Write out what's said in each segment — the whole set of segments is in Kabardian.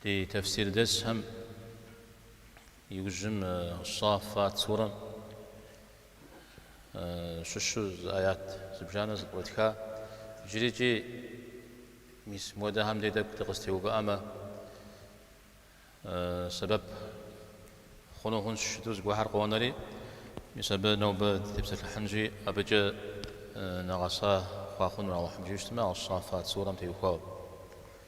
Ди тефсирдэсхэм иужьым Щафат сурэм щыщу зы аят зыбжанэ зэпкърытха, иджырикӏи мис муэдэхэм дей тӏэкӏу дыкъыстеувыӏэмэ, сэбэп хъуну хъунщ щыту зыгуэхьэр къонэри, мис абы нобэ дытепсэлъыхьынщи, абыкӏэ нэгъэса хъуа хъуну Алыхьым жиӏэщтмэ, а Щафат сурэм теухуауэ.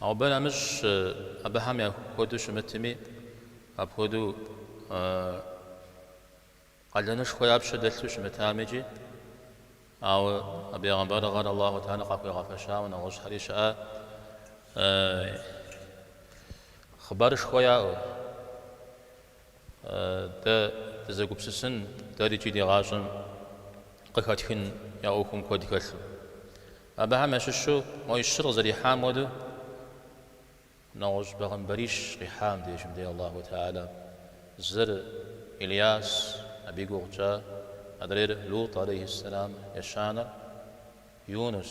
Ауэ абы нэмыщӏ абыхэм я хуэдэу щымытми, апхуэдэу къалэнышхуэ я пщэ дэлъу щымытам икӏи, ауэ а бегъымбарыгъэр Аллаху Тэхьэла къахуигъэфэщауэ нэгъуэщӏхэри щыӏэ, хъыбарышхуэ яӏэу. Дэ дызэгупсысын, дэри икӏи ди гъащӏэм къыхэтхын я ӏуэхум куэд хэлъу. Абыхэм ящыщу мо щыр къызэрихьам хуэдэу, нэгъуэщӏ бегъымбарищ къихьа абдежым дей Аллаху Теала. Зыр Ильяс, абы и гугъу тщӏа, адрейр Лут алейхьиссэлам, ещанэр Юнус.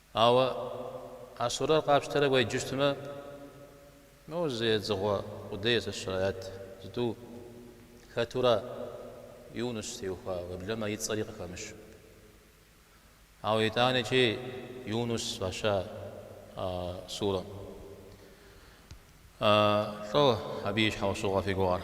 Ауэ а сурэр къапщтэрэ уеджэщтмэ, моуэ зы едзыгъуэ къудей, сэ сщӏэрэ, аят зытӏу хэтура Юнус теухуауэ, уеблэмэ и цӏэри къыхэмыщу. Ауэ итӏанэкӏи Юнус фӏаща а сурэм. Лӏо абы и щхьэусыгъуэ фи гугъэр.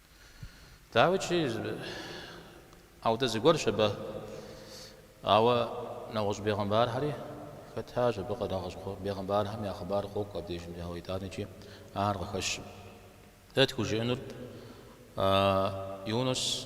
Дауикӏи, ауэдэ зыгуэрщ абы. Ауэ нэгъуэщӏ бегъымбархэри хэтащ абы нэгъуэщӏ бегъымбархэм я хъыбар къокӏуэ абдежым, ауэ итӏанэкӏи ахэр къыхэщым. Дэ тхужыӏэнур Юнус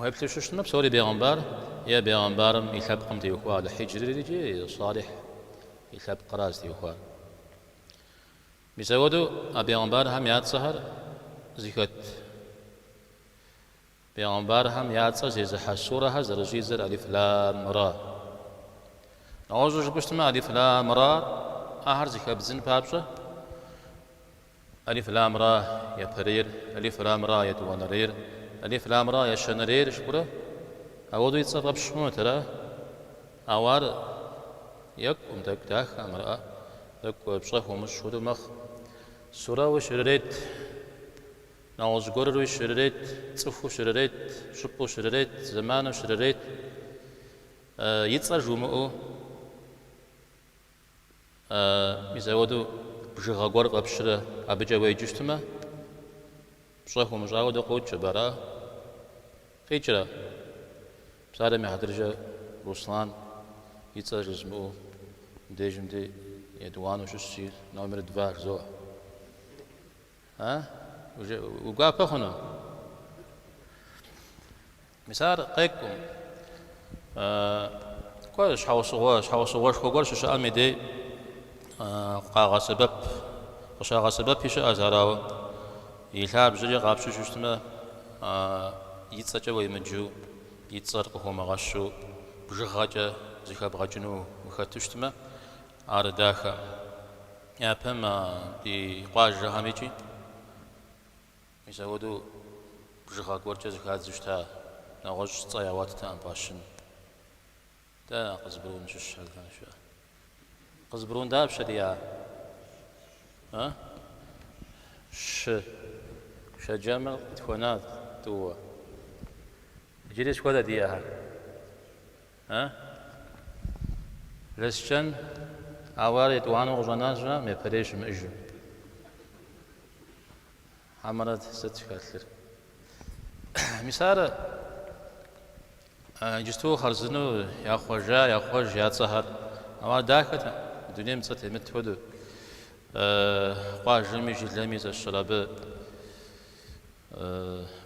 Уеплъу щытмэ, псори бегъымбар е бегъымбарым и лъэпкъым теухуа. Аль-Хьиджри икӏи Салихь и лъэпкъра зытеухуар. Мис ауэдэу а бегъымбархэм я цӏэхэр зыхэт бегъымбархэм я цӏэ зезыхьэ сурэхэр зэрыщӏидзэр Алиф Лам Ра. Нэгъуэщӏу жыпӏэу щытмэ, Алиф Лам Ра ахэр зыхэбдзын папщӏэ Алиф лам ра япэрейр, алиф лам ра етӏуанэрейр, алиф лам ра ещанэрейр жыпӏэрэ? Ауэдэу и цӏэр къапщтэ хъунут, ара? Ауэ ар екӏум, тӏэкӏу дахэм, ара, тӏэкӏу пщӏэ хуумыщӏ хуэдэу мэхъу. Сурэуи щырырет, нэгъуэщӏ гуэрыруи щырырет, цӏыхуу щырырет, щӏыпӏэу щырырет, зэману щырырет. И цӏэр жумыӏэу. Мис ауэдэу бжыгъэ гуэр къэпщрэ абыкӏэ уеджэу щытмэ, пщӏэ хуумыщӏауэ дэ къокӏ абы, ара? Къикӏрэ? Псалъэм и хьэтыркӏэ Руслан и цӏэр жызмыӏэу дежым ди етӏуанэу щыщ си номер два жызоӏэ. А? Уи гуапэ хъуну? Мис ар къекӏуӏым. Кӏуэ, щхьэусыгъуэ, щхьэусыгъуэшхуэ гуэр щыщыӏэм и дей къагъэсэбэп, къыщагъэсэбэпи щыӏэщ, ар ауэ, и лъабжьэри къапщтэу щытмэ, и цӏэкӏэ уемыджу, и цӏэр къыхыумыгъэщу, бжыгъэкӏэ зыхэбгъэкӏыну ухэту щытмэ, ар дахэ. Япэм, ди къуажэхэм икӏи. Мис апхуэдэу бжыгъэ гуэркӏэ зыхадзу щыта нэгъуэщӏ цӏэ ягъуэттэкъым фӏащын. Дэ Къызбрун щыщ Алдан щыӏэ. Къызбрун дапщэ диӏа? А? Щы. Шэджэмыр къытхуэна тӏууэ. Иджыри сыт хуэдэ диӏахэр. А? Лэскэн, ауэ ар етӏуанэу къыщӏэнащ, а? Япэрей щымыӏэжым. Хьэмэрэ, сыт хэлъыр? Мис ар иджыпсту хъарзынэу яхъуэжа, яхъуэж я цӏэхэр. Ауэ ар дахэт, мы дунейм цӏэ темыт хуэдэу. Къуажэми жылэми зэщыр абы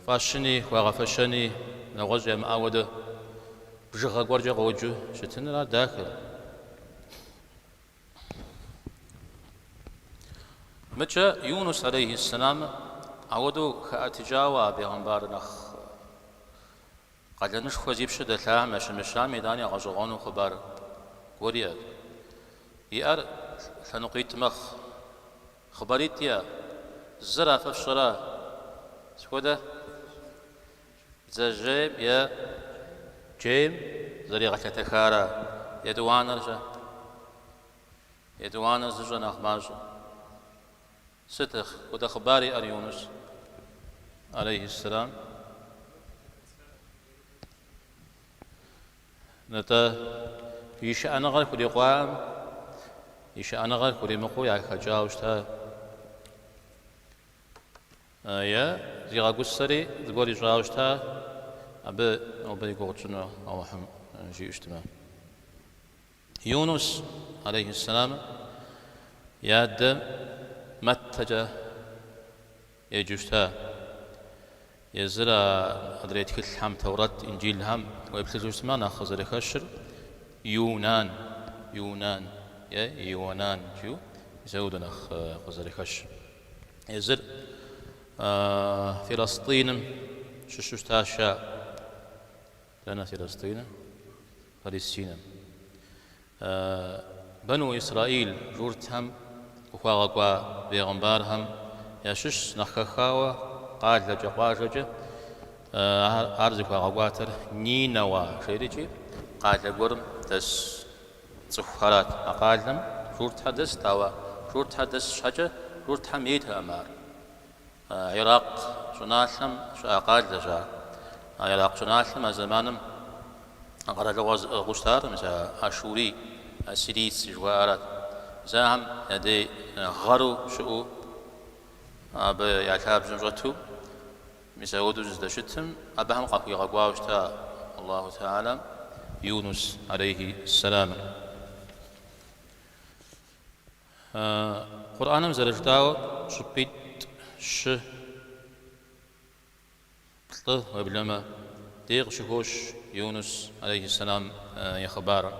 фӏащыни, хуагъэфэщэни, нэгъуэщӏ ямыӏэ хуэдэ бжыгъэ гуэркӏэ къоджэу щытыныр ар дахэ. Мыкӏэ Юнус алейхьиссэламыр ауэдэу хэӏэтыкӏауэ а бегъымбар нэхъ къалэнышхуэ зи пщэ дэлъам ящымыщами итӏани а гъэщӏэгъуэну хъыбар гуэри иӏэт. Иӏэр лъэныкъуитӏ мэхъу. Хъыбаритӏ иӏэ, зыр фэ фщӏэрэ, сыт хуэдэ? Бдзэжьейм е джейм зэригъэлъэтэхара етӏуанэр-щэ? Етӏуанэр зыщӏэр нэхъ мащӏэ. Сыт хуэдэ хъыбар иӏэр Юнус алейхьис-салам? Нтӏэ, и шыӏэныгъэр хурикъуаӏым, и шыӏэныгъэр хуримыкъуу яхэкӏауэ щыта. Е, зигъэгусэри, зыгуэр ищӏауэ щыта, абы нобэ и гугъу тщӏыну Алыхьым жиӏэу щытмэ. Юнус, алейхьиссэлам, и адэ Мэттэкӏэ еджэу щыта. Езыр а адрей тхылъхэм, Тэурэт, Инджылхэм, уеплъыжу щытмэ, нэхъ къызэрыхэщыр Юнан, Юнан е Ионан жиӏэу, мис апхуэдэу нэхъ къызэрыхэщ. Езыр Филастиным щыщу щытащ ар. Дэнэ Филастиным? Палестинэм. Бэну Исраил журтхэм къыхуагъэкӏуа бегъымбархэм ящыщщ нэхъ хэхауэ къалэкӏэ, къуажэкӏэ. Ар зыхуагъэкӏуатэр Нинэуа жерикӏи, къалэ гуэрым дэс Цӏыхухэрат а къалэм журтхэ дэст, ауэ журтхэ дэс щхьэкӏэ журтхэм ейтэкъым ар. Иракъ щӏыналъэм щыӏа къалэщ ар. А Иракъ щӏыналъэм а зэманым къэралыгъуэ зыӏыгъыу щытар, мис а ашурий, ассирийцы жыхуаӏэрат. Мис ахэм я дей гъэру щыӏэу абы я лъабжьэм щӏэту. Мис апхуэдэу зыздэщытым, абыхэм къахуигъэкӏуауэ щыта Аллаху Теалэм Юнус алейхи ссэламыр. Къурӏаным зэрыжытӏауэ, щӏыпӏитӏ, щы, плӏы, уеблэмэ, дей къыщыхощ Юнус алейхи ссэлам и хъыбарыр.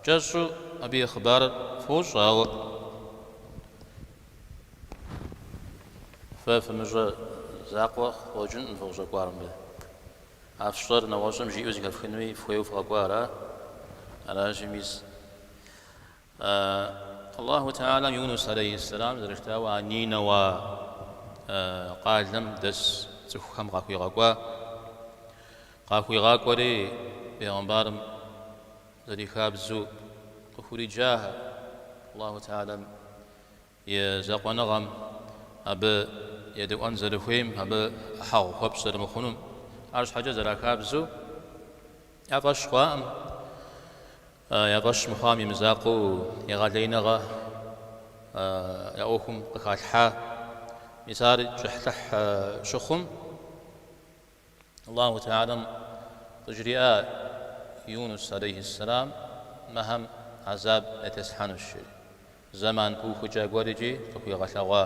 Кӏэщӏу абы и хъыбарыр фощӏэ, ауэ Фэ фымыщӏэ закъуэ къыщӏэкӏынкъым фыкъыщӏэкӏуар мыбы. А фщӏэр нэгъуэщӏым жиӏэу зэхэфхынуи фхуейуэ фыкъэкӏуа ара? Аращи, мис. Аллаху Теалэм Юнус алейхьиссэлам зэрыжытӏауэ а Нинэуа къалэм дэс цӏыхухэм къахуигъэкӏуа. Къахуигъакӏуэри бегъымбарым. Зэрихабзэу къыхуриджахэ Аллаху Теалэм и закъуэныгъэм, абы едэӏуэн зэрыхуейм, абы ӏыхьэгъу хуэпщӏ зэрымыхъунум. Арщхьэкӏэ зэрахабзэу я фӏэщ хъуаӏым, я фӏэщ мыхъуам и мызакъуэу егъэлеиныгъэ я ӏуэхум къыхалъхьа. Мис ар кӏыхьлӏыхь щыхъум. Аллаху Теалэм къыжриӏа Юнус алейхи сэлам мыхэм хьэзаб ятеслъхьэнущ жери. Зэман пыухыкӏа гуэрикӏи къыхуигъэлъэгъуа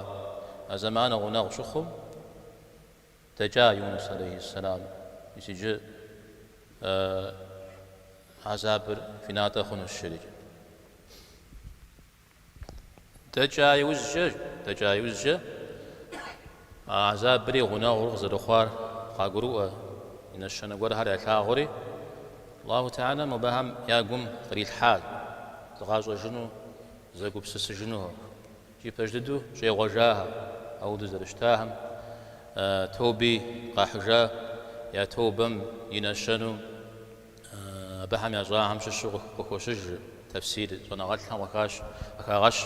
а зэманыр гъунэгъу щыхъум, дэкӏа Юнус алейхи сэлам, мис иджы хьэзабыр фи натӏэ хъунущ жери. Дэкӏа иужькӏэ, дэкӏа иужькӏэ, а азабри гъунэгъур къызэрыхъуар къагурыӏуэ и нэщэнэ гуэрхэр ялъагъури, Аллаху Теала мобыхэм я гум кърилъхьа зыкъащӏэжыну, зэгупсысыжынухэр, икӏи пэж дыдэу щӏегъуэжахэр, ауэдэу зэрыщытахэм тоби къахьыжа я тобэм и нэщэнэу, Абыхэм ящӏахэм щыщу къыхощыж тэфсир щӏэныгъэлӏхэм къыхагъэщ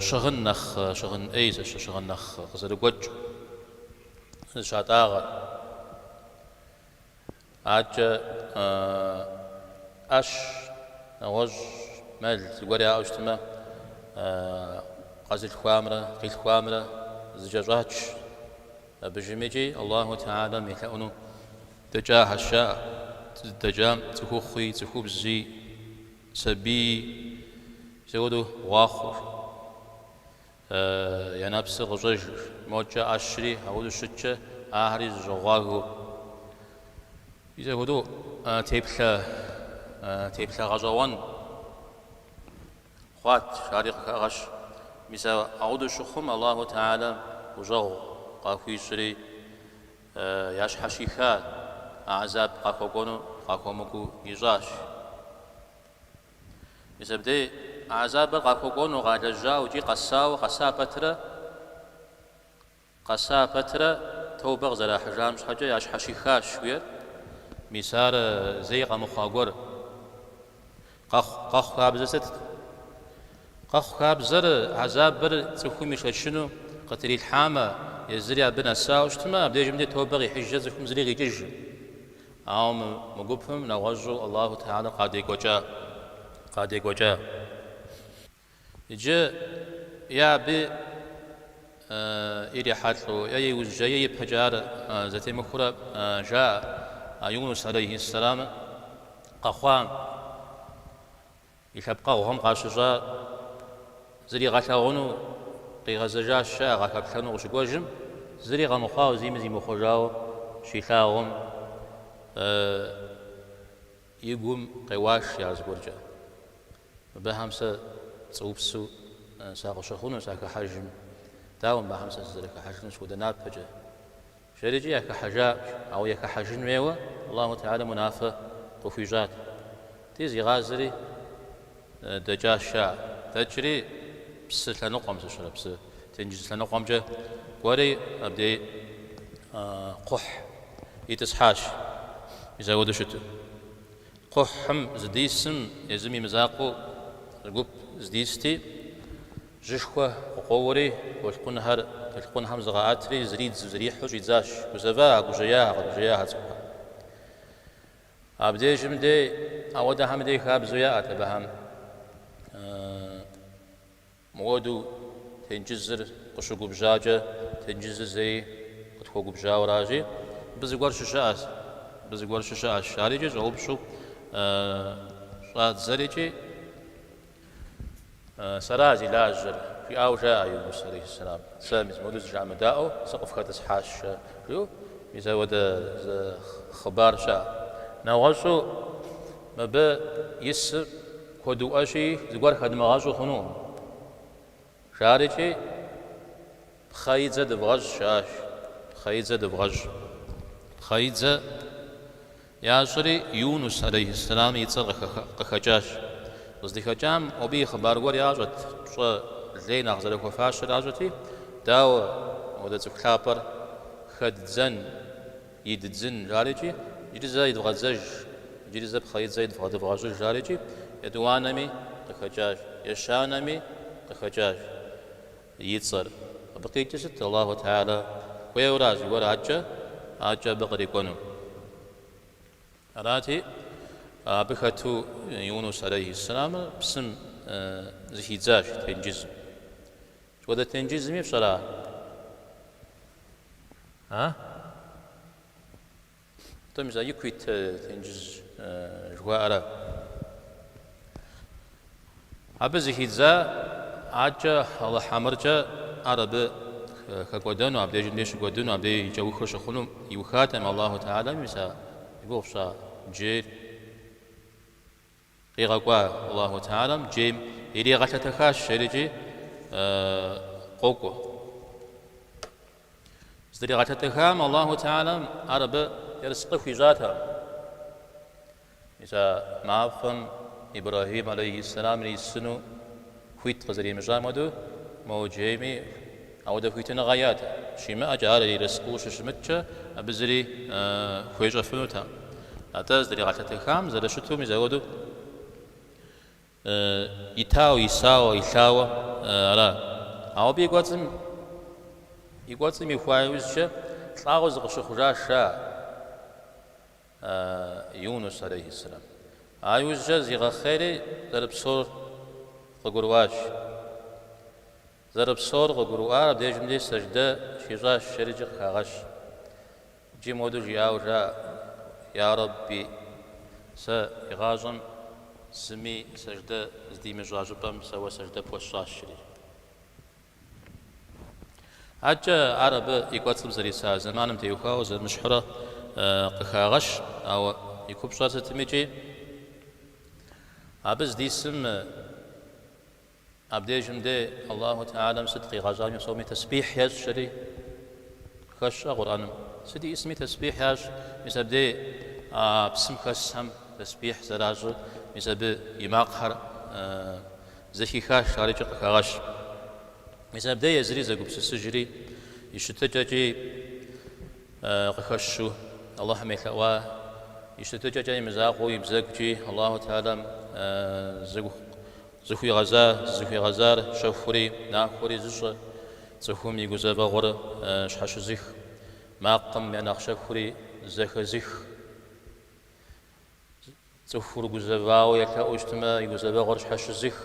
щыгъын нэхъ щыгъын ӏей, щыгъын нэхъ къызэрыгуэкӏ зыщатӏагъэр. Адэкӏэ ӏэщ, нэгъуэщӏ, мэл зыгуэр яӏэу щытмэ, къэзылъхуамрэ къилъхуамрэ зэкӏэщӏач абы иужьым икӏи Аллаху Теалэм елъэӏуну. Дэкӏахэщ, а зыдэкӏам цӏыхухъуи, цӏыхубзи, сабийи, мис апхуэдэу гъуахъуэу я нэпсыр къыщӏэжыр. Мокӏэ ӏэщри апхуэдэу щыткӏэ, ахэри зэщӏэгъуагэу. Мис апхуэдэу теплъэ, теплъэ гъэщӏэгъуэн хъуат, ари къыхагъэщ. Мис апхуэдэу щыхъум, Аллаху Теалэ гущӏэгъу къахуищӏри. ящхьэщиха гӏэзаб къахуэкӏуэну къахуэмыкӏуэу ищӏащ. Мис абдей гӏэзабыр къахуэкӏуэну къалэжьауэ икӏи къэсауэ къэса пэтрэ, къэса пэтрэ тобэ къызэрахьыжам щхьэкӏэ ящхьэщихащ, жиӏэрт. Мис ар зэи къэмыхъуа гуэр Къэхъу, къэхъу хабзэр сыт? Къэхъу хабзэр, гӏэзабыр цӏыхум ишэчыну къытрилъхьамэ, езыри абы нэсауэ щытмэ, абдежым де тобэ къихьыжкӏэ цӏыхум зыри къикӏыжкъым. Ауэ мы, мы гупым нэгъуэщӏу Аллаху Теалэр къадекӏуэкӏа, къадекӏуэкӏа. Иджы е абы ирихьэлӏэу, е иужькӏэ, е ипэкӏэ ар зэтемыхуэурэ жаӏэ Юнус алейхьис-салам къэхъуа и лъэпкъэгъухэм къащыщӏа зригъэлъэгъуну къигъэзэжащ, жаӏэ, къахэплъэну къыщыкӏуэжым, зыри къэмыхъуауэ, зыми зимыхъуэжауэ щилъагъум, и гум къеуащ я зыгуэркӏэ. Мыбыхэм сэ пцӏыупсу сакъыщыхъуну сахыхьэжым, дауэ мыбыхэм сэ сызэрыхыхьэжынур сыт хуэдэ напэкӏэ? Жери икӏи яхыхьэжакъым, ауэ яхыхьэжын хуейуэ Аллаху Теалэм унафэ къыхуищӏат. Ди зигъазэри дэкӏащ, жаӏэ. Дэкӏри псы лъэныкъуэм, зыщэрэ псы тенджыз лъэныкъуэмкӏэ кӏуэри абдей кхъухь итӏысхьащ, мис апхуэдэу щыту. Кхъухьым зыдисым езым и мызакъуэу зы гуп здисти, жьышхуэ къыкъуэуэри, толъкъунхэр толъкъунхэм зыкъаӏэтри, зридзу зрихьу щӏидзащ. Гузэва, гужьеяхэ, къэгужьеяхэ цӏыхухэр. Абдежым де ауэдэхэм дей хабзэу яӏэт абыхэм. Мыуэду тенджызыр къыщыгубжьакӏэ, тенджызыр зэи къытхуэгубжьауэращи, мыбы зыгуэр щыщыӏэщ, мыбы зыгуэр щыщыӏэщ, жарикӏи щӏэупщӏэу щӏадзэрикӏи Сэра зи лажьэр? жиӏауэ жаӏэ Юнус алейхиссалам. Сэ мис мыуэду зы жыӏэмыдаӏуэу сыкъыфхэтӏысхьащ, жа, жиӏэу мис ауэдэ зы хъыбар щыӏэщ. Нэгъуэщӏу мыбы исыр. Куэдыӏуэщи, зыгуэр хэдмыгъэщӏу хъунукъым, жарикӏи, Пхъэидзэ дывгъэщӏ, жаӏащ. Пхъэидзэ дывгъэщӏ. Пхъэидзэ ящӏри, Юнус, алейхьэссэлам, и цӏэр къыхэкӏащ. Къыздыхэкӏам, абы и хъыбар гуэр ящӏэт, пщӏэ лей нэхъ зэрыхуэфащэр ящӏэти, Дауэ, ауэдэ цӏыху лъапӏэр хэддзэн? иддзын, жарикӏи, иджыри зэ идвгъэдзэж, иджыри зэ пхъэидзэ идвгъэ дывгъэщӏыж, жарикӏи, етӏуанэми къыхэкӏащ, ещанэми къыхэкӏащ и цӏэр. Абы къикӏыр сыт, Аллаху Теалэ хуейуэра зыгуэр акӏэ, акӏэ абы кърикӏуэну? Арати, абы хэту Юнус алейхи сэлам псым зыхидзащ тенджызым. Сыт хуэдэ тенджызми фщӏэра? Атӏэ мис а ику ит тенджыз жыхуаӏэра. Абы зыхидза щхьэкӏэ Алыхь амыркӏэ ар абы хэкӏуэдэну, абдежым дей щыкӏуэдыну, абдей и кӏэухыр щыхъуну иухатэкъым Аллаху Теалэм, мис а зи гугъу пщӏа джейр Къигъэкӏуа Аллаху Теалэм джейм иригъэлъэтэхащ жерикӏи къокӏуэ. Зыдригъэлъэтэхам Аллаху Теалэм ар абы ерыскъы хуищӏатэкъым. Мис а мафӏэм Ибрэхьим алейхьи сэлам ирисыну. Хуит къызэримыщӏам хуэдэу мо джейми ауэдэ хуитыныгъэ иӏэтэкъым. Щимыӏэкӏэ ар ерыскъыу щыщымыткӏэ, абы зыри хуещӏэфынутэкъым. Атӏэ зыдригъэлъэтэхам зэрыщыту мис ауэдэу итауэ, исауэ, илъауэ ара? Ауэ абы и кӏуэцӏым, и кӏуэцӏым ихуа иужькӏэ лӏауэ зыкъыщыхъужащ ар. Юнус алейхи сэлам. А иужькӏэ зигъэхъейри зэрыпсэур къыгурыӏуащ. Зэрыпсэур къыгурыӏуар абдежым де сэждэ щищӏащ, жери икӏи къыхагъэщ. Икӏи моду жиӏауэ жаӏэ, Я Рэбби, сэ игъащӏэм зыми сэждэ здимыщӏа щӏыпӏэм сэ Уэ сэждэ пхуэсщӏащ, жри. Адэкӏэ ар абы и кӏуэцӏым зэриса зэманым теухуауэ зэмыщхьурэ къыхагъэщ, ауэ и купщӏэр сытми икӏи абы здисым абдежым де Аллаху Теалэм сыт къигъэщӏами псоми тесбихь ещӏ жери хэтщ Къурӏэным. Сыт исми тесбихь ящӏ, мис абдей а псым хэсхэм тесбихь зэращӏыр, мис абы и макъхэр Зэхихащ, ар икӏи къыхагъэщ. Мис абдеж езыри зэгупсысыжри, и щытыкӏэкӏи къыхэщу, Алыхьым елъэӏуа, и щытыкӏэкӏэ имызакъуэу и бзэгукӏи Аллаху Теалэм зыхуигъэза, зызыхуигъэзар щэхури нахуэри зыщӏэ, цӏыхум и гузэвэгъуэр щхьэщызых, макъым я нэхъ щэхури зэхэзых. Цӏыхур гузэвауэ елъэӏуу щытмэ, и гузэвэгъуэр щхьэщызых.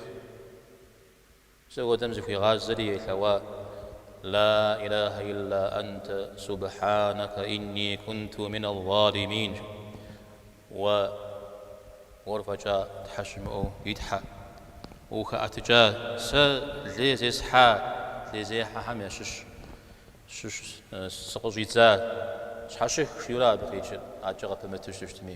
Мис апхуэдэм зыхуигъазэри елъэӏуа, Ла илахьэ илла ант, субхьанэкэ инни кунту минал залимин, жи. Уэ, уэр фӏэкӏа Тхьэ щымыӏэу, и Тхьэ, ухэӏэтыкӏа, сэ лей зесхьа, лейзехьэхэм ящыщ сыкъыщӏидза, щхьэщых, жиӏэурэ абы къикӏыр, адэкӏэ къыпымыту щыщытми.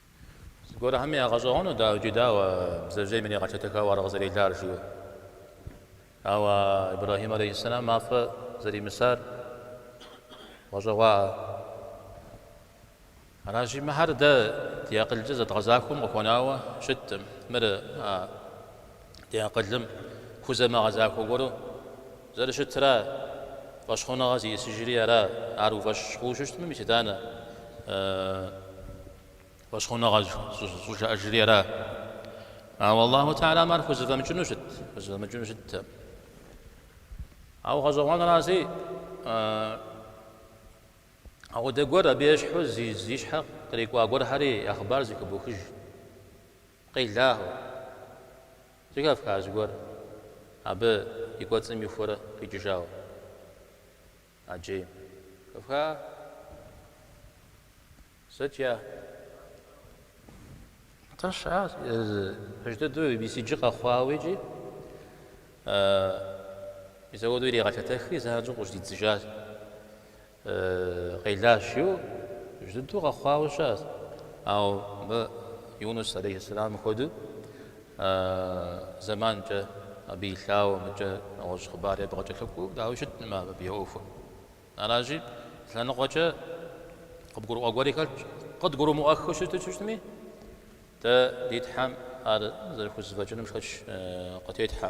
Зыгуэрхэми ягъэщӏэгъуэну, дауэ иджы дауэ бдзэжьейм иригъэлъэтэхауэ ар къызэрелар, жиӏэу. Ауэ Ибрэхьим алейхьэссэлам мафӏэ зэримысар гъэщӏэгъуаӏэ. Аращи, мыхьэр дэ ди акъылкӏэ зэдгъэзахуэм къыхуэнауэ щыткъым. Мыр а. Ди акъылым хузэмыгъэзахуэ гуэру зэрыщытра, фӏэщхъуныгъэ зищӏысыжри ара, ар уи фӏэщ хъуу щыщытмэ, мис итӏанэ, фӏэщхъуныгъэ щӏыжаӏэжри ара. Ауэ Аллаху Теалэм ар хузэфӏэмыкӏыну щытт, хузэфӏэмыкӏыну щытт. Ауэ гъэщӏэгъуэнращи, апхуэдэ гуэр абы ещхьу зи щхьэ кърикӏуа гуэрхэри я хъыбар зэхыбохыж. Къелагъэу, зы кавказ гуэр, абы и кӏуэцӏым ихуэрэ къикӏыжауэ ӏэджейм. Кавка сыт я? Атӏэ ща пэж дыдэу мис иджы къэхъуауэ икӏи мис апхуэдэу иригъэлъэтэхри, занщӏэу къыщыдидзыжащ. Къелащ иу, жыдыу къэхъуауэ щыӏэщ. Ауэ мы Юнус алейхьэсэламым хуэдэу зэманкӏэ абы илъауэ мыкӏэ нэгъуэщӏ хъыбар абы къыкӏэлъыкӏуэу, дауи щытмэ абы я ӏуэхур. Аращи, лъэныкъуэкӏэ къыбгурыӏуэ гуэри хэлъщ. Къыдгурымыӏуэххэу щыту щытми, дэ ди Тхьэм ар зэрыхузэфӏэкӏыным шэч къытетхьэ.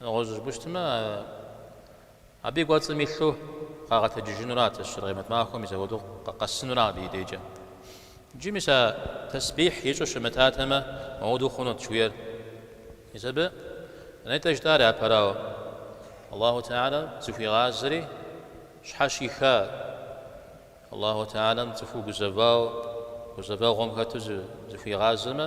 Нэгъуэщӏ жыпӏущтмэ, абы и кӏуэцӏым илъу къагъэтэджыжынурат ар Къемэт махуэм и зэӏуэдыкъу къэсынурэ абы и дежкӏэ. Иджы мис а тесбихь ищӏу щымытатэмэ, мыуду хъунут жыхуиӏэр. Мис абы нетӏэ жытӏар япэрауэ, Аллаху Теалэм зыхуигъазэри щхьэщиха, Аллаху Теалэм цӏыхур гузэвауэ, гузэвэгъуэм хэту зыхуигъазэмэ,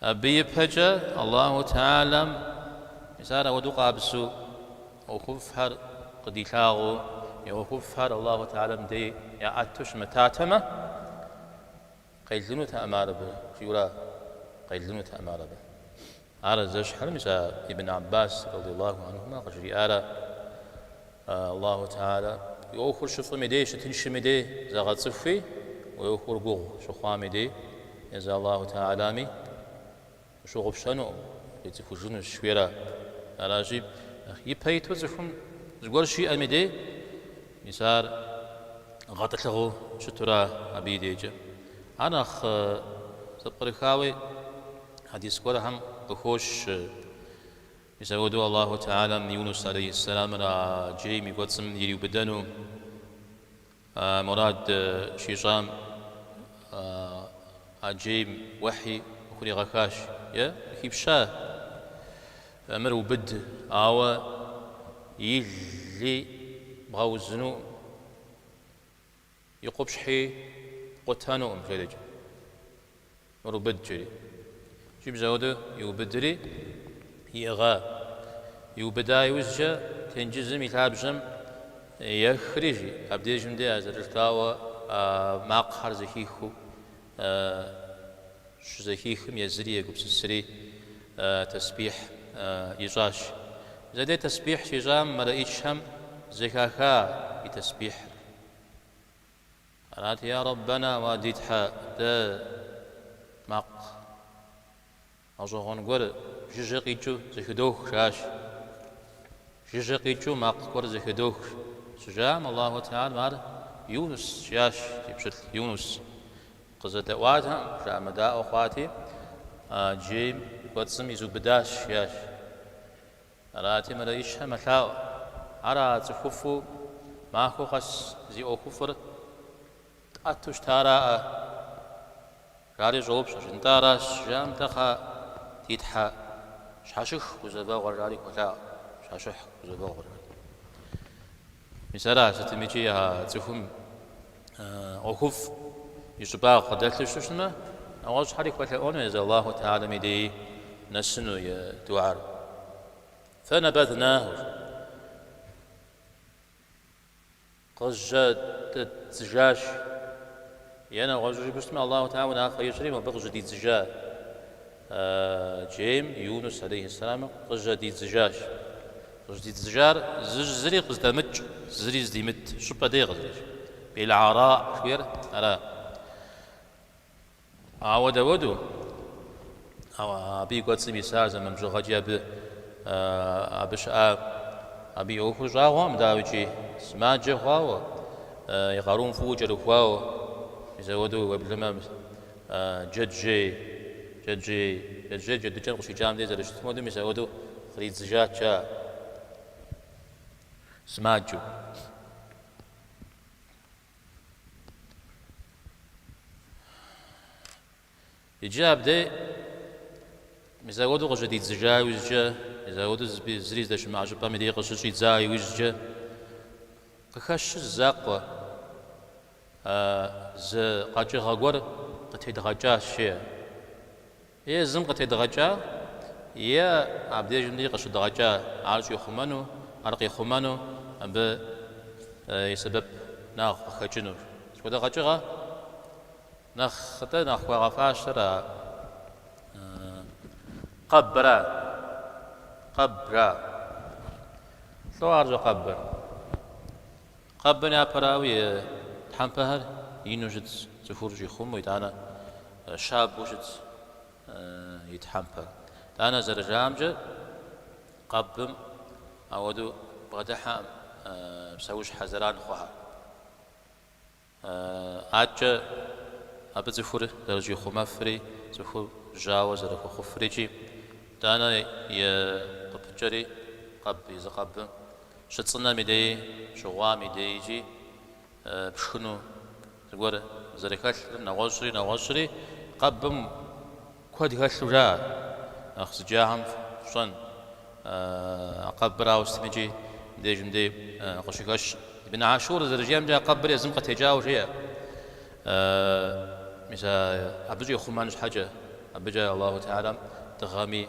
Абы ипэкӏэ Аллаху Теалэм мис ар ауэдэу къабзу ӏуэхуфӏхэр къыдилъагъуу, и ӏуэхуфӏхэр Аллаху Теалэм дей яӏэту щымытатэмэ, къелынутэкъым ар абы, жиӏэурэ къелынутэкъым ар абы. Ар зэщхьыра мис а Ибн Аббас радияллаху анхумэ къыжриӏара, Аллаху Теалэ уи ӏуэхур щыфӏыми дей, щытыншыми дей зэгъэцӏыхуи, уи ӏуэхур гугъу щыхъуами дей, езы Аллаху Теалэми ущыгъупщэнукъым, укъицӏыхужынущ, жыхуиӏэра. Аращи, нэхъ ипэ иту цӏыхум зыгуэр щиӏэми дей, мис ар гъэтӏылъыгъэу щытура абы и дейкӏэ. Ар нэхъ зэпкърыхауэ хьэдис гуэрхэм къыхощ. Мис ауэду Аллаху Теалэм Юнус алейхьэссэламыр а джейм и кӏуэцӏым ириубыдэну мурад щищӏам а джейм уэхьи къыхуригъэхащ е къыхипща мыр убыд, ауэ и ли бгъэузынукъым. И къупщхьи къутэнукъым жэрыкӏэ, мыр убыд жиӏэри. Икӏи мис ауэдэу иубыдри, иӏыгъа. Иубыда иужькӏэ тенджызым и лъабжьэм ехри, жи, абдежым де а зэрыжытӏауэ а макъхэр зэхихыу щызэхихым езыри егупсысри тэсбихь ищӏащ. Зэдей тэсбихь щищӏам мэлэӏичхэм зэхаха и тэсбихьыр. Арати, я Раббэна уа ди Тхьэ, дэ, макъ, гъэщӏэгъуэн гуэр жыжьэ къикӏыу зэхыдох, жаӏащ. Жыжьэ къикӏыу макъ гуэр зэхыдох, щыжаӏэм, Аллаху Теалэм ар Юнус жиӏащ, ди пщылӏ Юнус. Къызэдэӏуатэкъым, жыӏэмыдаӏуэ хъуати, а джейм кӏуэцӏым изубыдащ, жиӏащ. Арати, мэлэӏычхэ мэлъаӏуэ, ар а цӏыхуфӏу махуэ къэс зи ӏуэхуфӏыр тӏэту щытараӏэ? жари щӏоупщӏэщ. Нтӏэ, аращ, жаӏэм тӏэ кхъӏэ, ди Тхьэ, щхьэщых гузэвэгъуэр, жари хуэлъаӏуэ, щхьэщых гузэвэгъуэр, жари. Мис ар сытми икӏи а цӏыхум ӏуэхуфӏ и щӏыбагъ къыдэлъу щыщытмэ, нэгъуэщӏхэри хуэлъэӏуэну езы Аллаху Теалэм и дей нэсыну и дуӏэр. Фэнэбэднаху къыжьэдэддзыжащ е нэгъуэщӏу жыпӏэщтмэ, Аллаху Теалэ унафэ ищӏри мыбы къыжьэдидзыжа. Джейм Юнус алейхи сэлам къыжьэдидзыжащ. Къыжьэдидзыжар зыщӏ зыри къыздэмыкӏ, зыри здимыт щӏыпӏэ дей къызэрыщӏ. Билгӏараӏ жыхуиӏэр ара? Ауэ дауэду? Ауэ абы и кӏуэцӏым исар зэман бжыгъэкӏи абы абы щыӏа абы и ӏуэхур щӏагъуэкъым, дауикӏи сымаджэ хъуауэ, и къарум фӏыуэ кӏэрыхуауэ, мис ауэду уеблэмэ, Джэджьей, Джэджьей, Джэджьей джэдыкӏэм къыщикӏам дей зэрыщытым хуэду мис ауэдэу къыдидзыжат а сымаджэу. Иджы абдей мис ауэдэу къыщыдидзыжа иужькӏэ, мис ауэдэу зыри здэщымыӏэ щӏыпӏэм и дей къыщыщӏидза иужькӏэ, къыхэщ зы закъуэ. А зы къэкӏыгъэ гуэр къытедгъэкӏа щ, е езым къытедгъэкӏа, е абдежым дей къыщыдгъэкӏа, ар щӏихъумэну, ар къихъумэну абы и сэбэпынагъ къыхэкӏыну. Сыт хуэдэ къэкӏыгъэ нэхъ къытӏэ, нэхъ хуагъэфащэр а къэбыра, къэбыра. Лӏо ар щхьэ къэбыр. Къэбым япэрауи, и тхьэмпэхэр ину щытщ, цӏыхур щӏихъумэу, итӏанэ щабэу щытщ и тхьэмпэр. Итӏанэ зэрыжаӏэмкӏэ, къэбым ауэдэу бгъэдыхьэкъым псэущхьэ зэран хъухэр. Абыкӏэ абы цӏыхур зэрыщӏихъумэфри, цӏыхур жьауэ зэрыхуэхъуфрикӏи, итӏанэ е къыпыкӏэри къэб езы къэбым Щыцӏынэм и дей, щыгъуам и дей икӏи пшхыну зыгуэр зэрыхэлъыр нэгъуэщӏри нэгъуэщӏри къэбым куэд хэлъу жаӏэ. Нэхъ зыджахэм ящӏэн, а къэбырауэ сытми икӏи мыбдеж мыбдей къыщыхэщ. Ибн Ашур зэрыжиӏэмкӏэ, а къэбыр езым къытекӏауэ жеӏэ. Мис абы щӏихъумэн щхьэкӏэ, абыкӏэ Аллаху Теалэм дыгъэми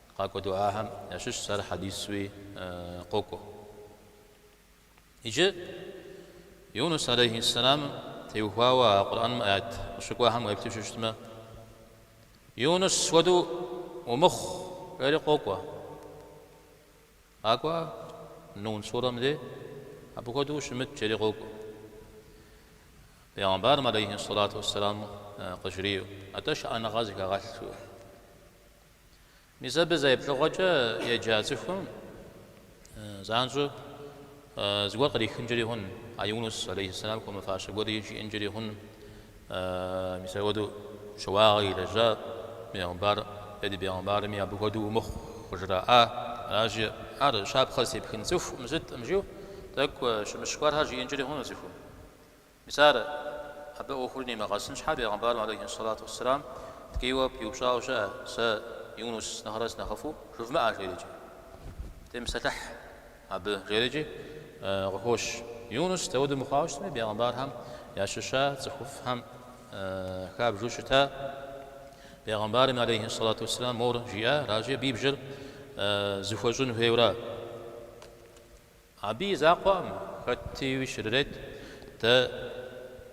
Къакӏуэ дуӏахэм ящыщщ ар хьэдисуи къокӏуэ. Иджы Юнус алейхи сэлам теухуауэ а Къурӏэным аят къыщыкӏуахэм уеплъу щыщтмэ, Юнус хуэдэу умыхъу, жери къокӏуэ. Къакӏуэ Нун сурэм де, абы хуэдэу ущымыт, жери къокӏуэ. Пэйгъэмбарым алейхи сэлату уэсэлам къыжриӏэу, атӏэ шыӏэныгъэ зыхэгъэлъ жиӏэу. Мис абы зэ еплъыгъуэкӏэ еджа цӏыхум занщӏэу зыгуэр кърихынкӏэри хъун, а Юнус алейхиссалам хуэмыфащэ гуэри жиӏэнкӏэри хъун. Мис апхуэдэу щыуагъэ илэжьа бегъымбар, е ди бегъымбарми абы хуэдэу умыхъу къыжраӏа? Аращи, ар щапхъэ зытепхын цӏыхуу щыткъым жиӏэу тӏэкӏу щымыщ гуэрхэр жиӏэнкӏэри хъуну цӏыхум. Мис ар абы ӏуэхур нимыгъэсын щхьэ, бегъымбарым алейхи ссалату уэсселам ткӏийуэ пиупщӏауэ щыӏэ, Сэ Юнус нэхърэ сынэхъыфӏу жывмыӏэ, жери икӏи. Темыпсэлъыхь абы, жери икӏи къыхощ. Юнус дауэду мыхъуауэ щытми, бегъымбархэм ящыща цӏыхуфӏхэм хабжу щыта. Бегъымбарми алейхи ссалату уэсселам мор жиӏа, аращи, ди бжэр зыхуэщӏын хуейуэ ара. Абы и закъуэкъым, хэти щрырет, дэ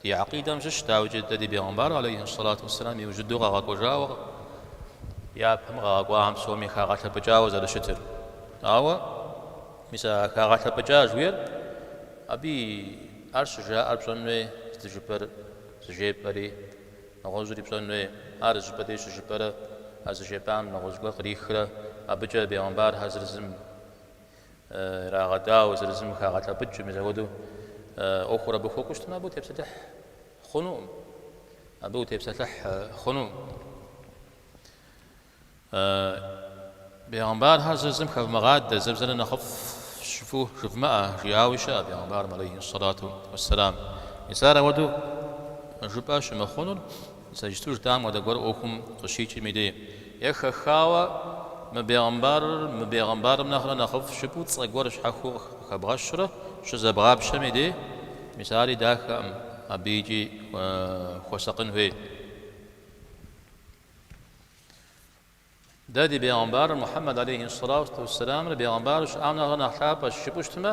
ди акъидэм щыщ, дауикӏи дэ ди бегъымбар алейхи ссалату уэсселам иужьыдэу къэгъэкӏуэжауэ япэм къэгъэкӏуахэм псоми хагъэлъэпӏыкӏауэ зэрыщытыр. Ауэ, мис а хагъэлъэпӏыкӏа жиӏэр, абыи ар щыжаӏэр пщӏэн хуей, здыжыпӏэр зыжепӏэри, нэгъуэщӏри пщӏэн хуей, ар зыщӏыпӏэ дей щыжыпӏэрэ, а зыжепӏам нэгъуэщӏ гуэр кърихрэ, абыкӏэ бегъымбархэр зырызым ирагъэдауэ, зырызым хагъэлъэпӏыкӏыу, мис апхуэдэу ӏуэхур абы хуэкӏуу щытмэ, абы утепсэлъыхь хъунукъым. Абы утепсэлъыхь хъунукъым. Бегъымбархэр зырызым хэвмыгъадэ, зым зыр нэхъыфӏщ жыфӏэу жывмыӏэ, жиӏауи щыӏэ бегъымбарым алейхи сэлату уэссэлам. Мис ар ауэдэу жыпӏэ щымыхъунур, Сэ иджыпсту жытӏам хуэдэ гуэр ӏуэхум къыщикӏым и де е хэхауэ мы бегъымбарыр мы бегъымбарым нэхърэ нэхъыфӏщ жыпӏэу цӏэ гуэр щхьэхуэу къыхэбгъэщурэ щызэбгъапщэм и де, мис ари дахэкъым, абы икӏи хуэсакъын хуей. Дэ ди бегъымбарыр Мухьэммэд алейхи ссалату уэсселамыр бегъымбару щыӏам нэхърэ нэхъ лъапӏэщ жыпӏэу щытмэ,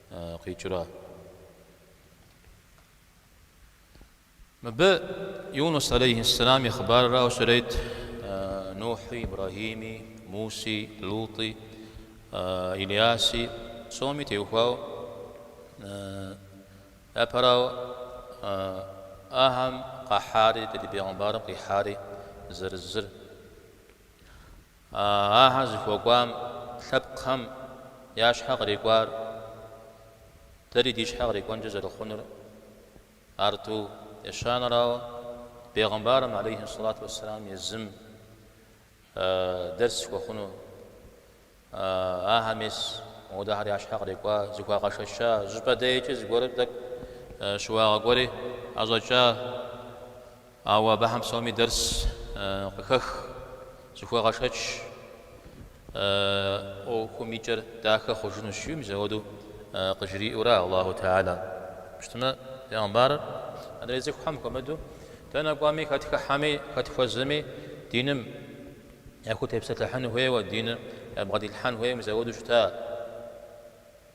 къикӏра. Мыбы Юнус алейхьиссалам и хъыбаррауэ щрет Нухьи, Ибрагьими, Муси, Лутӏи, Илияси, псоми теухуау, япэрауэ ахэм къахьари, ди Бегъымбарым къихьари, зэрызыр. Ахэр зыхуэкӏуам лъэпкъхэм я щхьэ кърикӏуар дэри ди щхьэ кърикӏуэнкӏэ зэрыхъунур арту ещанэрауэ, бегъымбарым алейхи ссалату уэсселам езым дэрс хуэхъуну, ахэм мис мыпхуэдэхэр я щхьэ кърикӏуа, зыхуагъэшэча, щӏыпӏэ дейкӏэ зыгуэрым тӏэкӏу щыуагъэ гуэри ӏэщӏэкӏа, Ауэ абыхэм псоми дэрс къыхэх, зыхуэгъэшэч, ӏуэхум и кӏэр дахэ хъужынущ, жи мис ауэдэу къыжриӏэура Аллаху Теала? Ауэ щытмэ, Бегъымбарыр адрей цӏыхухэм хуэмыдэу дэнэ кӏуами, хэт хыхьэми, хэт хуэзэми диным яхутепсэлъыхьын хуейуэ, диныр ябгъэдилъхьэн хуейуэ мис ауэдэу щыта?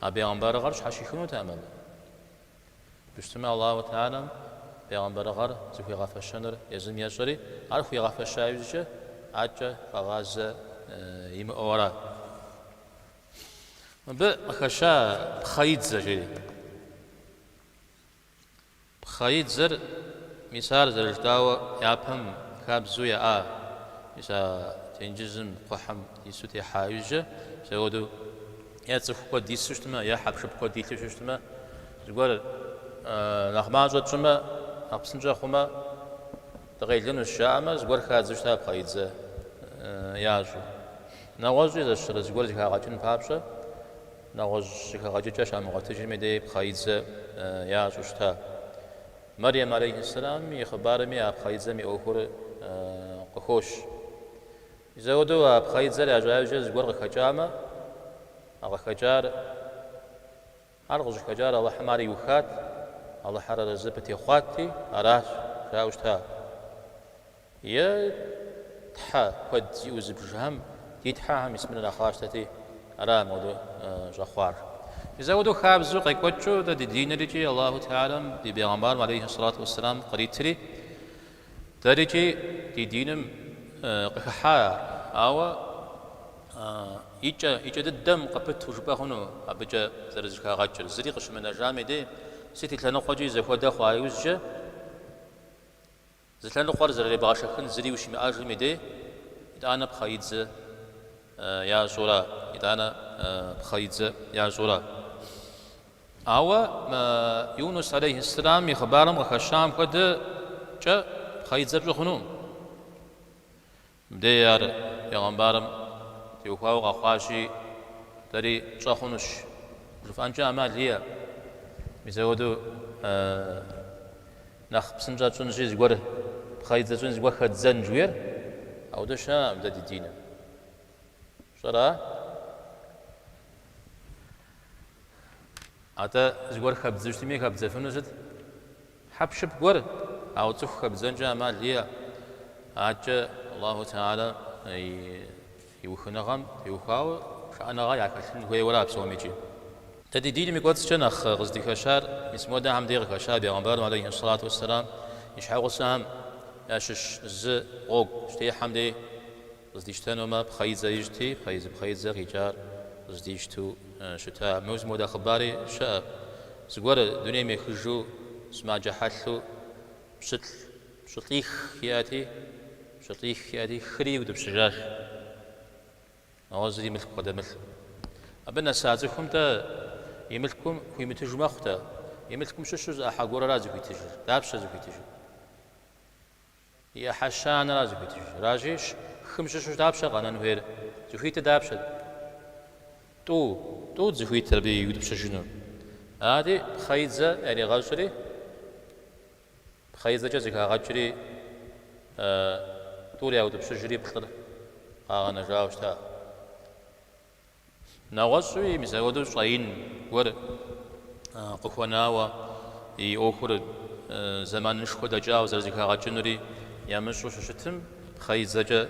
А бегъымбарыгъэр щхьэщихынут армырмэ. Ауэ щытмэ Аллаху Теалэм бегъымбарыгъэр зыхуигъэфэщэныр езым ещӏэри, ар хуигъэфэща иужькӏэ абыкӏэ къэгъазэ имыӏэу ара? Мыбы къыхэща пхъэидзэ жери. Пхъэидзэр, мис ар зэрыжытӏауэ япэм хабзэу яӏа, мис а тенджызым кхъухьым ису техьа иужькӏэ, мис апхуэдэу е цӏыху куэд ису щытмэ, е хьэпшып куэд илъу щытмэ, зыгуэр нэхъ мащӏэ тщӏымэ, нэхъ псынщӏэ хъумэ, дыкъелынущ жаӏэмэ, зыгуэр хадзэу щыта пхъэидзэ ящӏу. Нэгъуэщӏи зэщыщӏэрэ зыгуэр зэхагъэкӏын папщӏэ. Нэгъуэщӏ зэхэгъэкӏыкӏэ щамыгъуэтыжми дей пхъэидзэ ящӏу щыта. Мэрем алейхьэссэламым и хъыбарми а пхъэидзэм и ӏуэхур къыхощ. Мис ауэдэу а пхъэидзэр ящӏа иужькӏэ зыгуэр къыхэкӏамэ, а къыхэкӏар, ар къыщӏыхэкӏар Алыхьым ар иухат, Алыхьыр арэзы абы техъуати, аращ, жаӏэу щыта. Е тхьэ куэд зиӏэу зыбжхэм, ди Тхьэхэм мис мыр нэхъ къащтэти, ара мыпхуэдэу щӏэхъуар? Мис ауэдэу хабзэу къекӏуэкӏыу дэ ди диныр икӏи Аллаху Теалэм ди Бегъымбарым алейхи сэлату уэсселам къритри, дэр икӏи ди диным къыхыхьа ар. Ауэ и кӏэ, и кӏэ дыдэм къыпыту жыпӏэ хъуну абыкӏэ зэрызэхагъэкӏыр? Зыри къыщымынэжам дей, сыт и лъэныкъуэкӏи зэхуэдэ хъуа иужькӏэ? Зы лъэныкъуэр зэрыребгъэшэхын зыри ущимыӏэжым и дей, итӏанэ пхъэидзэ ящӏура? Итӏанэ пхъэидзэ ящӏура? Ауэ Юнус алейхьэсслам и хъыбарым къыхэщам хуэдэкӏэ пхъэидзэ пщӏы хъунукъым. Мыбдеж ар пегъэмбарым теухуауэ къэхъуащи, дэри тщӏэ хъунущ жыфӏэнкӏэ ӏэмал иӏэ. Мис апхуэдэу нэхъ псынщӏэ тщӏынщи, зыгуэр пхъэидзэ тщӏын, зыгуэр хэддзэн жуйр, ауэдэ щыӏэкъым дэ ди диным. Пщӏэра? Атӏэ зыгуэр хэбдзэу щытми, хэбдзэфыну сыт? Хьэпшып гуэр, ауэ цӏыху хэбдзэнкӏэ ӏэмал иӏэ. Адэкӏэ Аллаху Теала и ухыныгъэм теухуауэ шыӏэныгъэ яхэлъын хуейуэра псомкӏи. Дэ ди диным и кӏуэцӏкӏэ нэхъ къыздыхэщар мис модэхэм дей къыхэща бегъымбарым алейхьиссалату уэсселам и щхьэгъусэхэм ящыщ зы гъуэгу щытехьэм дей. Къыздищтэнумэ, пхъэидзэ ищӏти, пхъэидзэ-пхъэидзэ къикӏар къыздищтэу щыта. Абы мис мыуэдэ хъыбари щыӏэ. Зыгуэр дунейм ехыжу сымаджэ хьэлъэу пщылӏ, пщылӏих иӏэти, пщылӏих иӏэти, хыри иутӏыпщыжащ, ауэ зыри мылъку къыдэмылъу. Абы нэса цӏыхум-тӏэ и мылъкум хуимытыжу мэхъу-тӏэ? И мылъкум щыщу зы ӏыхьэ гуэрэра зыхуитыжыр. Дапщэ зыхуитыжыр? И ӏыхьэщанэра зыхуитыжыр? Аращи, хым щыщу дапщэ къэнэн хуейр? Зыхуитыр дапщэ? Тӏу, тӏут зыхуитыр абы иутӏыпщыжыну. Ари пхъэидзэ яригъэщӏри, пхъэидзэкӏэ зэхагъэкӏри, тӏур яутӏыпщыжри плӏыр къагъэнэжауэ щыта. Нэгъуэщӏуи мис апхуэдэу щӏэин гуэр къыхуэнауэ и ӏуэхур зэманышхуэ дэкӏауэ зэрызэхагъэкӏынури ямыщӏэу щыщытым, пхъэидзэкӏэ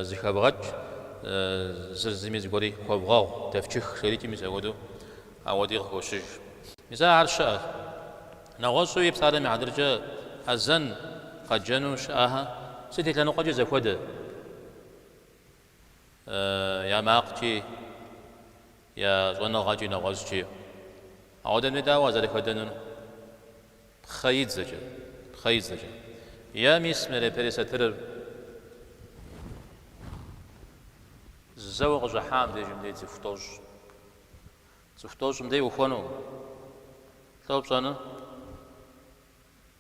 зыхэбгъэкӏ, зыр зыми зыгуэри хуэбгъэгъу, дэфчых жэрикӏи мис апхуэдэу ауэди къыхощыж. Мис ахэр щыӏэщ. Нэгъуэщӏуи псалъэм и хьэтыркӏэ азэн къэджэну щыӏэхэ сыт и лъэныкъуэкӏи зэхуэдэ. я макъкӏи, я щӏэныгъэкӏи, нэгъуэщӏкӏи. Ауэдэм дей дауэ уазэрыхэдэнур? Пхъэидзэкӏэ, пхъэидзэкӏэ. Е мис мы япэрей сатырыр зэуэ къыщӏыхьам деж мыбдей цӏыху тӏощӏ. Цӏыху тӏощӏ мыбдей ихуэну, лӏо пщӏэну?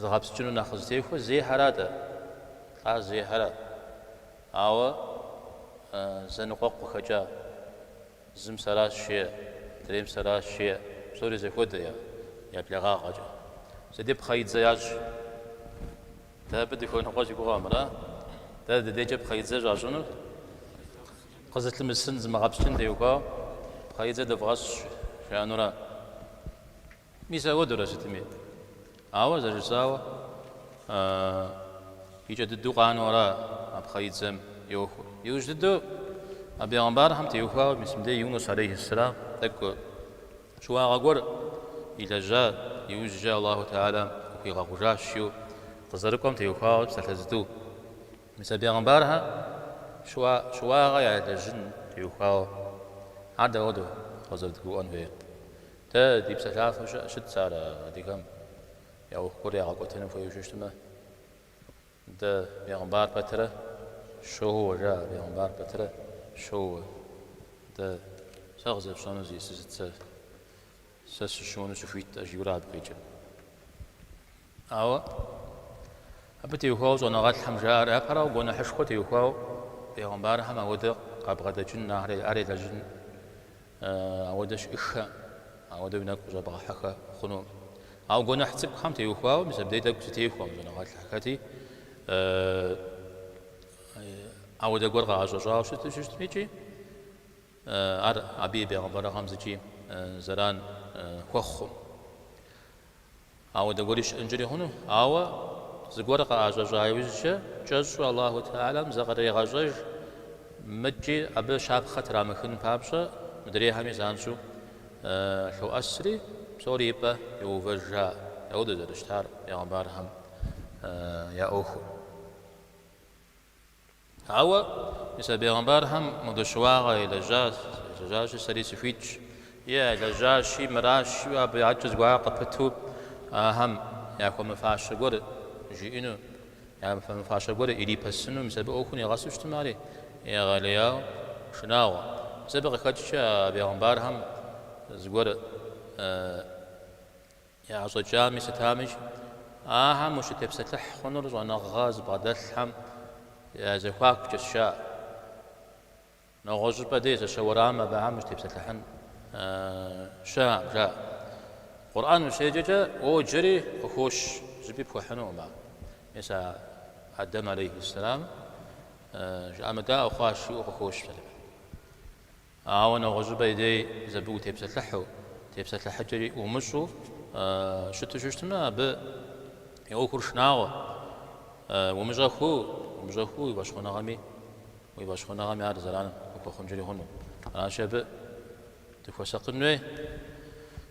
Зыгъэпскӏыну нэхъ къызытехуэр зехьэрат ар. Ар зехьэрат. Ауэ зэныкъуэкъу къыхэкӏа зым сэращ жеӏэ, мыдрейм сэращ жеӏэ, псори зэхуэдэ я блэгъагъэкӏэ. Зэ ди пхъэидзэ ящӏ. Дэ абы дыхуэныкъуэ си гугъэм, ара? Дэ дыдейкӏэ пхъэидзэ щӏащӏынур къызылъымысын, зымыгъэпскӏын теухуауэ пхъэидзэ дывгъэщӏ жаӏэнура? Мис ауэдурэ сытми. Ауэ зэрыжысӏауэ и кӏэ дыдэу къанэу ара а пхъэидзэм йохуэ. Иужь дыдэу а бегъымбархэм теухуауэ мис а Юнус алейхи ссэлам тӏэкӏу щыуагъэ гуэр илэжьа, иужькӏэ Аллаху Теалам къыхуигъэгъужащ жиӏэу къызэрыкӏуэм теухуауэ псалъэ зытӏу. Мис а бегъымбархэм щыуа щыуагъэ ялэжьын теухуауэ. Ар дауэду къызэрыдгурыӏуэн хуейр? Дэ ди псэлъафэ щыӏэ щытт сэ ар адыгэм я ӏуэху гуэр ягъэкӏуэтыну хуейуэ щытмэ. Дэ бегъымбар пэтырэ щоууэ, жаӏэ, бегъымбар пэтырэ щоууэ. Дэ сэ къызэпщӏэну зи сысыт сэ? Сэ сыщыуэну сыхуит, ӏэ жиӏэу ара абы къикӏыр. Ауэ абы теухуауэ щӏэныгъэлӏхэм жаӏэр япэрауэ гуэныхьышхуэ теухуауэ бегъымбархэм ауэдэ къабгъэдэкӏын, ар елэжьын, ауэдэ щыӏэххэ, ауэдэу уи нэгу къыщӏэбгъэхьэххэ хъуну. Ауэ гуэныхь цӏыкӏухэм теухуауэ мис абдей тӏэкӏу зэтехуэм щӏэныгъэлӏхэти, ауэдэ гуэр къаӏэщӏэщӏауэ щыту щытми икӏи ар абы и бегъымбарыгъэм зыкӏи зэран хуэхъум. Ауэ дэгуэри щыӏэнкӏэри хъуну? Ауэ зыгуэр къыӏэщӏэщӏа иужькӏэ, кӏэщӏу Аллаху Теалам зыкърегъэщӏэж, мыкӏи абы щапхъэ трамыхын папщӏэ, мыдрейхэми занщӏэу лъоӏэсри, псори и пӏэ йоувэж, жаӏэ. Ауэдэ зэрыщытар бегъымбархэм я ӏуэхум. Ауэ мис а бегъымбархэм мыбы щыуагъэ елэжьащ, елэжьащи, сэри сыхуитщ, е елэжьащи, мыращ, жиӏэу абы я ӏэкӏэ зыгуэрхэр къыпыту ахэм яхуэмыфащэ гуэр жиӏэну, яхуэмыфащэ гуэр ирипэсыну, мис абы ӏуэхур нигъэсу щытым ари егъэлеяуэ шынагъуэ. Мис абы къыхэкӏкӏэ а бегъымбархэм зыгуэр Яӏэщӏэкӏами сытами, ахэм ущытепсэлъыхь хъунур щӏэныгъэ зыбгъэдэлъхэм я зэхуакукӏэщ жаӏэ. Нэгъуэщӏыпӏэ дей зэщэ уэрамым абыхэм ущытепсэлъыхьын щыӏэкъым, жаӏэ. Къурӏэн ущеджэкӏэ, уоджэри къыхощ, зыщӏыпӏи пхуэхьынукъым ар. Мис а Адэм алейхьиссэлам жыӏэмыдаӏуэ хъуащ жиӏэу къыхощ псалъэпэдым. Ауэ нэгъуэщӏыбэ и дей зэбыгу тепсэлъыхьу, тепсэлъыхьыкӏэри умыщӏу щыту щыщтмэ, абы и ӏуэхур шынагъуэ. Умыщӏэхуу, умыщӏэхуу уи фӏэщхъуныгъэми, уи фӏэщхъуныгъэми ар зэран къыхуэхъункӏэри хъуну. Аращи, абы дыхуэсакъын хуей.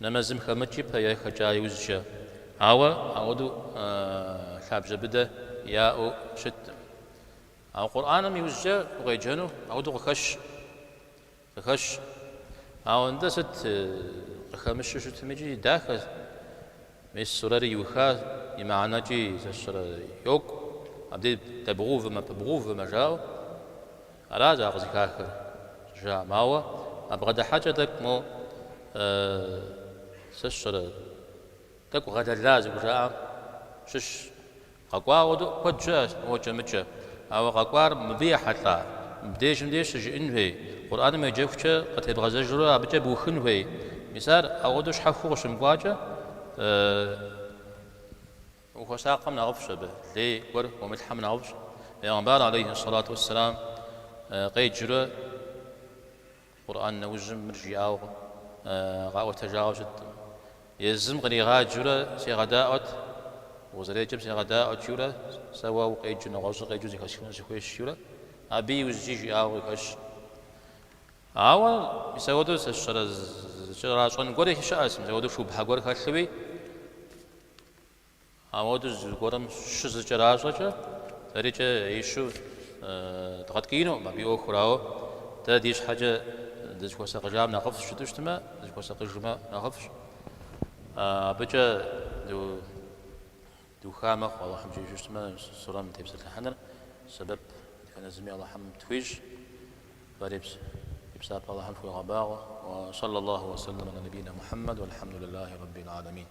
Нэмэзым хэмыкӏ ипэ е хэкӏа иужькӏэ. Ауэ ауэдэу лъабжьэ быдэ яӏэу щыткъым. Ауэ Къурӏаным иужькӏэ укъеджэну ауэдэу къыхэщ. Къыхэщ. Ауэ нтӏэ сыт къыхэмыщу щытмикӏи дахэ. Мис сурэри иуха, и мыхьэнэкӏи сэ сщӏэрэ йокӏу. Абди дэбгъэувэмэ, пыбгъэувэмэ жаӏэу. Аращ а къызыхахыр, щӏыжаӏэм. Ауэ а бгъэдыхьэкӏэ тӏэкӏу мо сэ сщӏэрэ, тӏэкӏу гъэлэла зыхужаӏам щыщщ. Къэкӏуауэ дыуэ куэд щыӏэщ мокӏэ-мыкӏэ, ауэ къэкӏуар мыбы ехьэлӏа? Мыбдеж мыбдеж щыжыӏын хуей, Къурӏэным уеджэхукӏэ къытебгъэзэжурэ абыкӏэ быухын хуей. Мис ар ауэдэу щхьэхуэу къыщымыкӏуакӏэ? Ухуэсакъым нэхъыфӏщ абы, лей гуэр умылъхьэм нэхъыфӏщ. Пегъымбар алейхьи сэлату уэсселам къеджурэ Къурӏэн нэужьым мыр жиӏауэ къаӏуэтэжауэ щыткъым. Езым къригъаджэурэ сегъэдаӏуэт, укъызэреджэм сегъэдаӏуэт жиӏэурэ, сэ уэ укъеджу, нэгъуэщӏыр къеджу зэхэсхыну сыхуейщ жиӏэурэ, абы иужькӏи жиӏауэ къыхэщ. Ауэ мис апхуэдэу сэ сщӏэрэ, зыкӏэращӏэн гуэри щыӏэщ, мис апхуэдэу шубхьэ гуэр хэлъууи. Ауэ дэ зыгуэрым щызыкӏэращӏэкӏэ, дэрикӏэ ищу дгъэткӏиинукъым абы и ӏуэхур, ауэ дэ ди щхьэкӏэ дызыхуэсакъыжам нэхъыфӏщ жытӏэу щытмэ, дызыхуэсакъыжмэ нэхъыфӏщ. Абыкӏэ духа мэхъу Алыхьым жиӏэжу щытмэ, сурэм тепсэлъыхьыныр сэбэп дэтхэнэ зыми Алыхьым тхуищӏ. Фэри фи псапэ Алыхьым фхуегъэбагъуэ. Уэ сэллэ Аллаху уэ сэллэм алэ нэбийнэ Мухьэммэд уэльхьэмду лылахи рэббил алэмин.